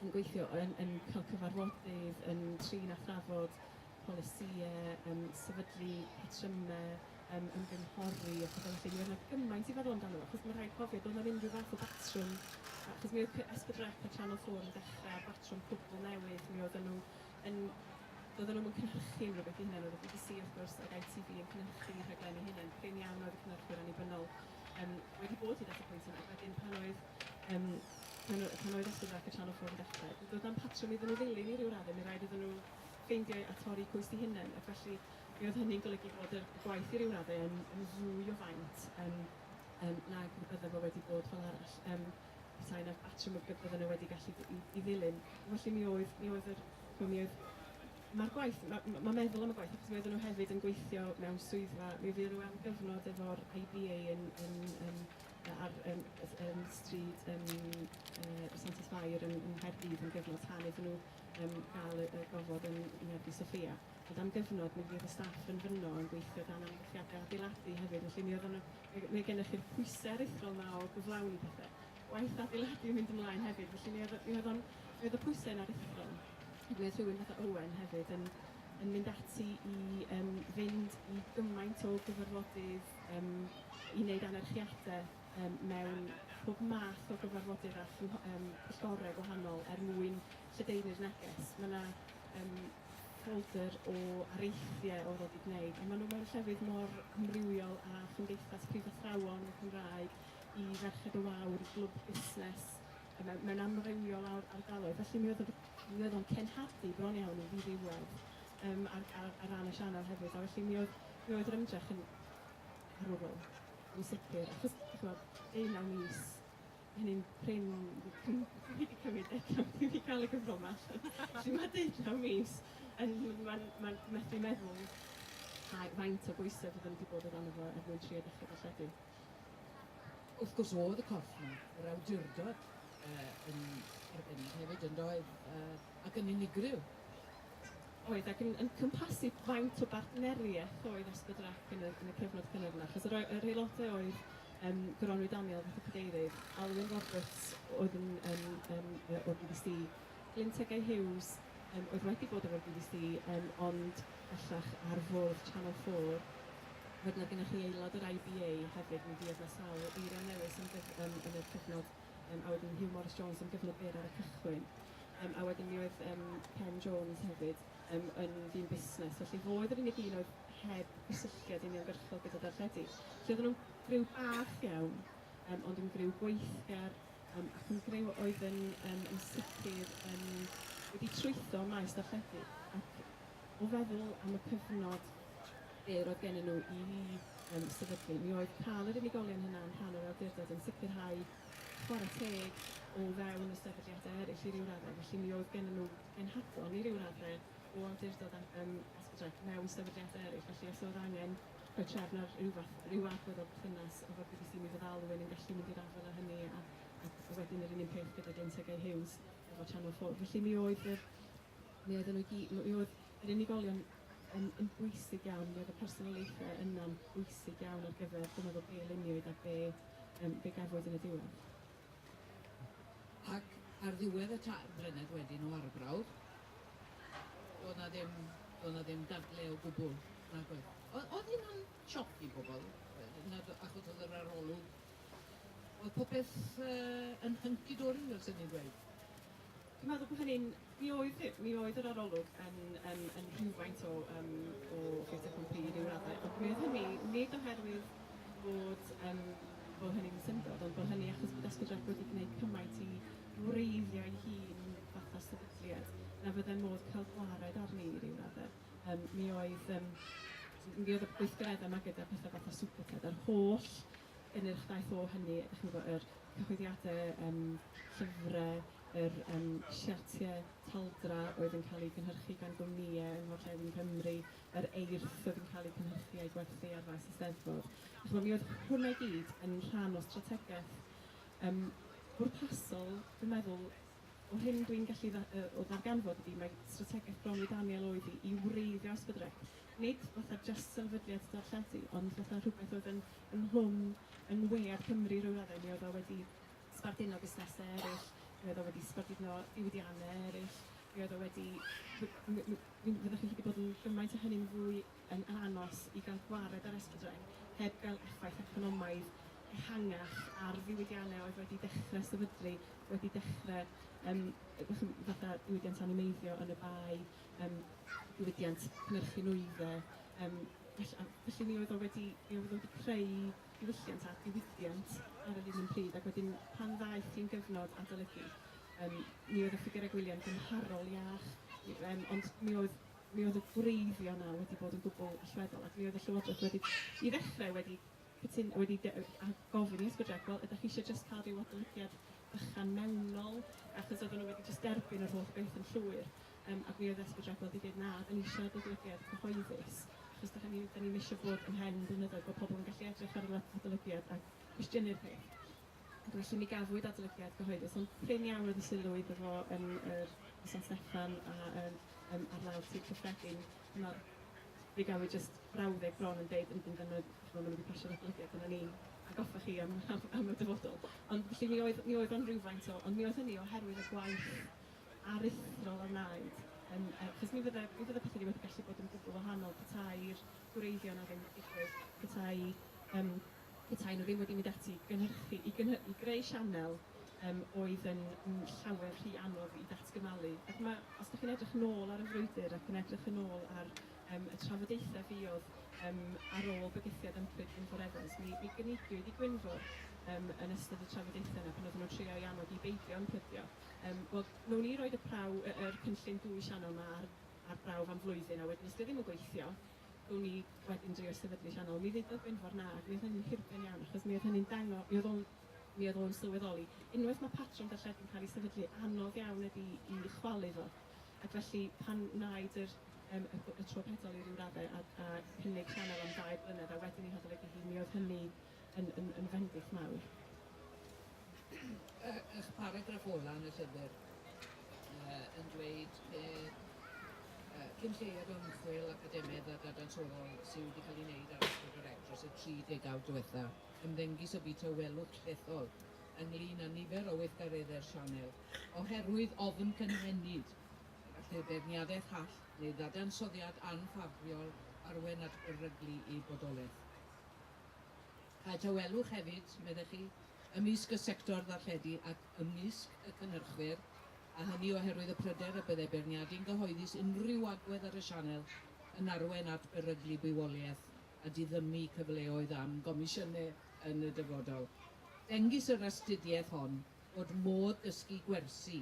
yn gweithio, yn yn cael cyfarfodydd, yn trin a thrafod polisïau, yym sefydlu patrymau, yym ymgynghori a phethe felly. Mi oedd 'na gymaint i feddwl amdano fo, achos ma' rhaid cofio, doedd 'na ddim ryw fath o batrwm, achos mi oedd cy- S4C a Channel 4 yn dechrau ar batrwm cwbl newydd, mi oedden nhw yn doedden nhw'm yn cynhyrchu unrhyw beth eu hunain, oedd y bbc wrth gwrs ac ITV yn cynhyrchu eu rhaglenni hunain, prin iawn oedd y cynhyrchwyr annibynnol yym wedi bod hyd at y pwynt yna, wedyn pan oedd yym pan o- pan oedd Ysgol Ddrac y Channel 4 yn dechrau, d- doedd na'm patrwm iddyn nhw ddilyn i ryw radde', mi raid iddyn nhw ffeindio a torri cwys eu hunain, ac felly mi oedd hynny'n golygu bod y y gwaith i ryw radde' yn yn fwy o faint yym yym nag y bydde fo wedi bod fel arall. Yym. petai 'na batrwm y bydden nhw wedi gallu i i ddilyn. Felly mi oedd mi oedd yr ch'mo' mi oedd... Ma'r gwaith, ma' ma' ma' meddwl am y gwaith, achos mi oedden nhw hefyd yn gweithio mewn swyddfa, mi fuon nhw am gyfnod efo'r IBA yn yn yn yy ar yym s- yym stryd yym yy Santes Fair yn yng Nghaerdydd am gyfnod tan iddyn nhw yym gael y y gofod yn yng Ngerddi Sophia. Ond am gyfnod mi fuodd y staff yn fynno yn gweithio dan amgylchiade adeiladu hefyd, felly mi oedden nhw Mae, mae gennych chi'r pwysau aruthrol 'ma o gyflawni pethe. Gwaith adeiladu yn mynd ymlaen hefyd, felly mi oedd, mi oedd o'n, mi oedd y pwysau yn aruthrol. Ac mi oedd rhywun fatha Owen hefyd yn, yn mynd ati i um, fynd i gymaint o gyfarfodydd um, i wneud anerchiadau um, mewn pob math o gyfarfodydd a um, pwyllgorau gwahanol er mwyn lledaenu'r neges. Mae yna um, Ffoldr o areithiau o ddod i gwneud, a maen nhw mewn llefydd mor amrywiol a Chymdeithas Prifathrawon y Gymraeg i Ferched y Wawr, i Glwb Busnes, a mewn, mewn amrywiol ar, ardaloedd. Felly mi oedd o, mi oedd o'n cenhadu bron iawn i ddiddiwedd um, ar, ar, ar ran y sianel hefyd. A felly mi oedd, mi oedd yr ymdrech yn arwrol, yn sicr, achos, chi'n gwybod, deunaw mis hynny'n prin cym- fi 'di cymryd deunaw fi 'di ca'l y cyfrol 'ma allan. Felly ma' deunaw mis yn m- ma'n ma'n methu meddwl ai faint o bwyse fydden i 'di bod o dano fo er mwyn trio dechre darlledu. Wrth gwrs o'dd y corff 'ma, yr awdurdod yy yn arbennig hefyd yndoedd? Yy ac yn unigryw. Oedd ac yn yn cwmpasu faint o bartnerieth oedd Asbydr Ac yn y yn y cyfnod cynnar yna achos yr o- yr aelode oedd Yym Goronwy Daniel, fath o Cadeirydd, Alun Roberts oedd yn yn yn yy o'r GDC, Glyn Tegay Hughes yym oedd wedi bod efo'r GDC yym ond bellach ar fwrdd Channel 4. Wedyn oedd gennych chi aelod o'r IBA hefyd, mi fuodd 'na sawl eirian newydd yn gyf- yn yn yr cyfnod yym a wedyn Huw Morris Jones yn gyflwr byr ar y cychwyn. Yym a wedyn mi oedd yym Ken Jones hefyd yym yn ddyn busnes, felly fo oedd yr unig un oedd heb gysylltiad uniongyrchol gyda darlledu. Felly oedden nhw'n griw bach iawn, um, ond yn griw gweithgar, um, ac yn griw oedd yn, um, yn sicr yn, wedi trwytho maes darlledu. Ac o feddwl am y cyfnod byr oedd gen nhw i um, sefydlu, mi oedd cael yr unigolion hynna yn rhan o'r awdurdod yn sicrhau chwarae teg o fewn y sefydliadau eraill i ryw raddau. Felly mi oedd gen nhw genhadon i ryw raddau o awdurdod ac yym Esbjerg mewn sefydliadau eraill, felly os oedd angen rhoi trefn ar ryw fath... ryw agwedd o berthynas efo'r bbc mi feddalwn yn gallu mynd i'r afael â hynny a a a wedyn yr un un peth gyda Glyn Tŷ Gay Hughes efo Channel 4. Felly mi oedd yr... mi oedden nhw i gyd... mi oedd yr unigolion yn yn bwysig iawn, mi oedd y personoliaethau yna'n bwysig iawn ar gyfer dwi'n meddwl be luniwyd a be yym be gafwyd yn y diwedd. Ac ar ddiwedd y tair blynedd wedyn o arbrawf, doedd 'na ddim, doedd 'na ddim dadle o gwbl, nag oedd? O- oedd hynna'n sioc i bobl? Yy nad o- achos oedd yr arolwg, oedd popeth yy yn hunky-dory fel 'se ni'n dweud? Dwi'n meddwl bod hynny'n... Mi oedd, mi oedd yr arolwg yn, yn, yn rhywfaint o, um, o fait FNP i ryw raddau, ond mi oedd hynny nid oherwydd bod, um, bod hynny'n syndod, ond bod hynny achos bod Esbydref wedi gwneud cymaint i wreiddio'i hun fatha sefydliad na fyddai modd cael gwared arni i ryw raddau. Um, mi oedd... Um, mi oedd y gweithgareddau yma gyda pethau fatha Superted a'r holl yn yr daith ôl hynny, dach chi'n gwybod, yr cyhoeddiadau, yym, llyfrau, yr yym siartiau taldra oedd yn cael eu cynhyrchu gan gwmnïau yng ngorllewin Nghymru, yr eirth oedd yn cael eu cynhyrchu a'i gwerthu ar faes y Steddfod. Dach chimod, mi oedd hwnna i gyd yn rhan o strategaeth yym bwrpasol, dwi'n meddwl, o'r hyn dwi'n gallu dda- yy o ddarganfod ydi mai strategaeth Bronwy Daniel oedd hi i wreiddio Ysbydd Rec. nid fatha jyst sefydliad darlledu, ond fatha rhywbeth oedd yn ynghlwm yng ngwyngliad Cymru ryw raddau. Mi oedd o wedi sbarduno busnesau eraill, mi oedd o wedi sbarduno diwydiannau eraill, mi oedd o wedi... mi... mi... mi fyddech chi wedi bod yn gymaint o hynny'n fwy yn anos i gael gwared ar S4C heb gael effaith economaidd ehangach ar ddiwydiannau oedd wedi dechrau sefydlu, wedi dechrau yym fatha diwydiant animeiddio yn y Bae. yym diwydiant cynhyrchu nwyddau, yym felly a felly mi oedd o wedi mi oedd o wedi creu diwylliant a diwydiant ar yr un un pryd ac wedyn pan ddaeth hi'n gyfnod adolygu yym mi oedd y ffigyrau gwyliau'n gymharol iach i- yym ond mi oedd mi oedd y gwreiddio 'na wedi bod yn gwbl allweddol ac mi oedd y Llywodraeth wedi i ddechrau wedi Wyt ti'n wedi gofyn i Ysgol Jac, wel, ydych chi eisiau jyst cael rhyw adolygiad bychan mewnol, achos oedden nhw wedi jyst derbyn yr holl beth yn llwyr, yym, ac mi oedd Ysgol Jac wedi deud, na, dan ni eisiau adolygiad cyhoeddus, achos dach ni, dan ni'm eisiau bod ymhen yn blynyddoedd bod pobl yn gallu edrych ar yr adolygiad a cwestiynu'r peth. Ac felly mi gafwyd adolygiad cyhoeddus, ond prin iawn oedd y sylw iddo fo yn yr San Steffan a yn yym ar lawr Sir Cyffredin, dyma'r Mi gawn ni jyst frawddeg bron yn deud yn bendant ch'mod ma' nhw wedi pasio'r adolygiad dyna ni atgoffa chi am am am y dyfodol. Ond felly mi oedd mi oedd o'n rywfaint o ond mi oedd hynny oherwydd y gwaith aruthrol a wnaed yn yy achos mi fydde mi fydde pethe ni wedi gallu bod yn gwbl wahanol petai'r gwreiddiau 'na ddim yn digwydd, petai yym petai nhw ddim wedi mynd ati i gynhyrchu, i gynhy-, i greu sianel yym oedd yn yn llawer rhy anodd i ddatgymalu. Ac ma', os dach chi'n edrych yn ôl ar y frwydr ac yn edrych yn ôl ar yym y trafodaethau fuodd yym ar ôl bygythiad ymchwil Gwynfor Evans, mi mi gynigiwyd i Gwynfor yym yn ystod y trafodaethau yna pan oedden nhw'n trio ei annog i beidio ymplygio yym wel, wnawn ni roid y praw- y yr cynllun dwy sianel 'ma ar ar brawf am flwyddyn a wedyn os 'di o ddim yn gweithio, O'n i wedyn drio'i sefydlu sianel. Mi ddudodd Gwynfor na ac mi oedd hynny'n hirben iawn achos mi oedd hynny'n dango- mi oedd o'n mi oedd o'n sylweddoli unwaith mae patrwm darlledu'n cael ei sefydlu anodd iawn ydi i chwalu fo ac felly pan wnaed yr yym y y tro pedol i ryw raddau a a cynnig sianel am ddau blynedd a wedyn ei hadolygu hi mi oedd hynny yn yn yn fendith mawr. Y y paragraff ola yn y llyfr yy yn dweud be yy cyn lleied o ymchwil academedd a dadansoddol sy wedi cael ei wneud ar Asgwrn yr Egg dros y tri degawd diwetha, ymddengys y bu tawelwch llethol ynglŷn â nifer o weithgareddau'r sianel oherwydd ofn cynhenid lle beirniadaeth hall neu ddadansoddiad anffafriol arwain at beryglu i bodolaeth. Cael tawelwch hefyd, meddech chi, ymysg y sector ddarlledu ac ymysg y cynhyrchwyr, a hynny oherwydd y pryder y bydde beirniadu'n gyhoeddus unrhyw agwedd ar y sianel yn arwain at beryglu bywoliaeth a diddymu cyfleoedd am gomisiynau yn y dyfodol. Dengys yr astudiaeth hon fod modd dysgu gwersi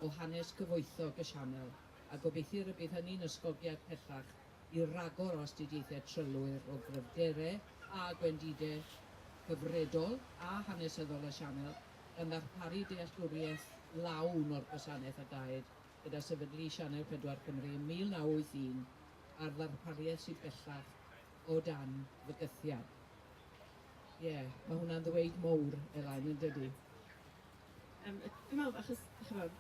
o hanes cyfoethog y sianel, a gobeithir y bydd hynny'n ysgogiad pellach i ragor o astudiaethau trylwyr o gryfderau a gwendidau cyfredol a hanesyddol y Sianel gan ddarparu dealltwriaeth lawn o'r gwasanaeth a daed gyda sefydlu Sianel 4 Cymru ym 1981 a'r ddarpariaeth sydd bellach o dan fygythiad. Ie, mae hwnna'n ddweud mowr, Elain, yn dydi? Yym dwi'n meddwl achos ch'mod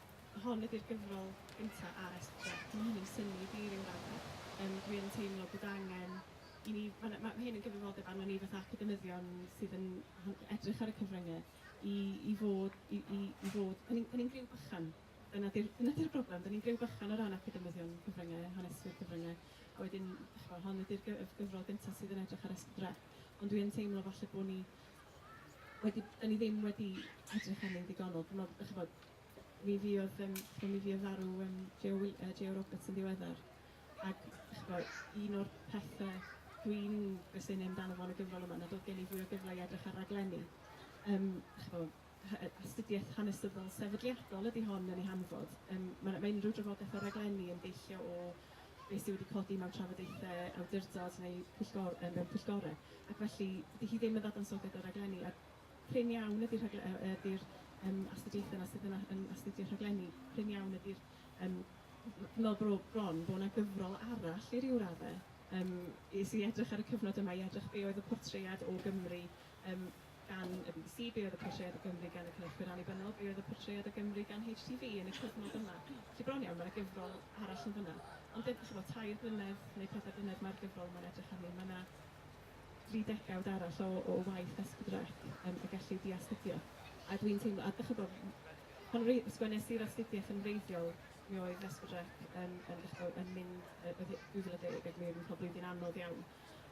hon ydy'r gyfrol gynta' ar SPJ, dyw hyn ddim synnu i fi i ryw radde'. Yym dwi yn teimlo bod angen i ni, ma' 'na, ma' hyn yn gyfrifoldeb arnon ni fatha academyddion sydd yn ho- edrych ar y cyfrynge i i fod i i i fod, 'da ni'n 'da ni'n griw bychan, dyna 'di'r dyna 'di'r broblem, 'da ni'n griw bychan o ran academyddion cyfrynge, haneswyr cyfrynge, a wedyn ch'mod hon ydy'r gy- y gyfrol gynta' sydd yn edrych ar SPJ. Ond dwi yn teimlo falle bo' ni wedi... Dan ni ddim wedi edrych arnyn nhw'n ddigonol. Dwi'n meddwl, dach chibod, mi fuodd yym chibod mi fuodd farw yym Joe Wil- yy Joe Roberts yn ddiweddar ac dach chibod un o'r pethe dwi'n gwestiynu amdano fo yn y gyfrol yma nad o'dd gen i fwy o gyfle i edrych ar raglenni yym dach chibod astudiaeth hanesyddol sefydliadol ydy hon yn ei hanfod. Yym, mae mae unrhyw drafodaeth o raglenni yn deillio o beth sydd wedi codi mewn trafodaethau awdurdod neu pwyllgor- yy mewn pwyllgorau. Ac felly, dydy hi ddim yn ddadansoddiad o raglenni, a prin iawn ydy rhagle- yy ydy'r yym astudiaethau 'na sydd yn a- yn astudio rhaglenni, prin iawn ydy'r yym... Dw i'n meddwl bro- bron bod 'na gyfrol arall i ryw raddau yym i sy i edrych ar y cyfnod yma, i edrych be oedd y portread o Gymru yym gan y bbc, be oedd y portread o Gymru gan y cynhyrchwyr annibynnol, be oedd y portread o Gymru gan HTV yn y cyfnod yma. Felly bron iawn, mae 'na gyfrol arall yn fan'na. Ond dim, chibod, tair blynedd neu pedwar blynedd mae'r gyfrol yma'n edrych arni, mae 'na dri degawd arall o o waith esgdrech yym y gellid diastudio. A dwi'n teimlo, a dych chibod, pan wre- sgwennes i'r astudiaeth yn wreiddiol, mi oedd esgdrech yn yn dych chibod yn mynd, yy oedd hi 2010 ac mi oedd hi'n cael blwyddyn anodd iawn.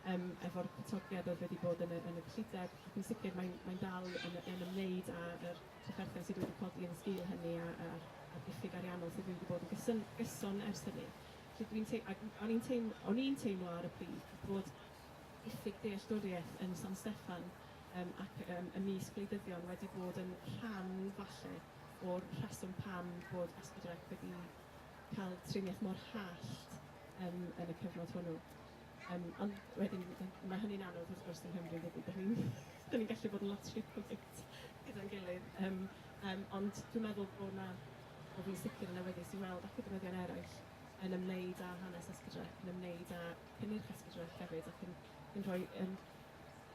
yym efo'r atodiad oedd wedi bod yn y yn y gyllideb ac yn sicr mae'n mae'n dal yn y yn ymwneud â yr trafferthion sydd wedi codi yn y sgil hynny a a a'r a'r diffyg ariannol sydd wedi bod yn gysyn- gyson ers hynny. Felly dwi'n tei- ac o'n i'n teim- o'n i'n teimlo ar y pryd bod diffyg dealltwriaeth yn San Steffan yym ac yym ymysg gwleidyddion wedi bod yn rhan falle o'r rheswm pam bod Esbydrec wedi cael triniaeth mor hallt yym yn y cyfnod hwnnw. Yym ond wedyn d- ma' hynny'n anodd wrth gwrs yng Nghymru dydi? Dan ni'n dan ni'n gallu bod yn lot rhy polite gyda'n gilydd yym yym ond dwi'n meddwl bod 'na, wel dwi'n sicr yn awyddus i weld academyddion eraill yn ymwneud â hanes Escudref, yn ymwneud â cynnyrch Escudref hefyd ac yn yn rhoi yym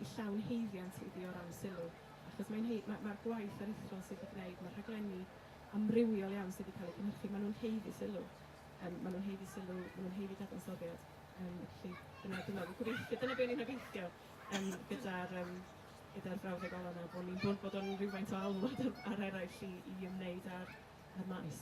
ei llawn haeddiant iddi o ran sylw achos mae'n hei- ma' ma'r gwaith aruthrol sydd 'di gwneud, ma'r rhaglenni amrywiol iawn sydd 'di cael eu cynhyrchu, maen nhw'n haeddu sylw, yym maen nhw'n haeddu sylw, maen nhw'n haeddu dadansoddiad. Yym, felly, dyna, dyna, fi'n gobeithio, dyna be o'n i'n obeithio um, gyda'r um, gyda'r brawddeg ola yna, bod ni'n bod, bod o'n rhywfaint o alwad ar, ar eraill i, i ymwneud â'r, ar maes.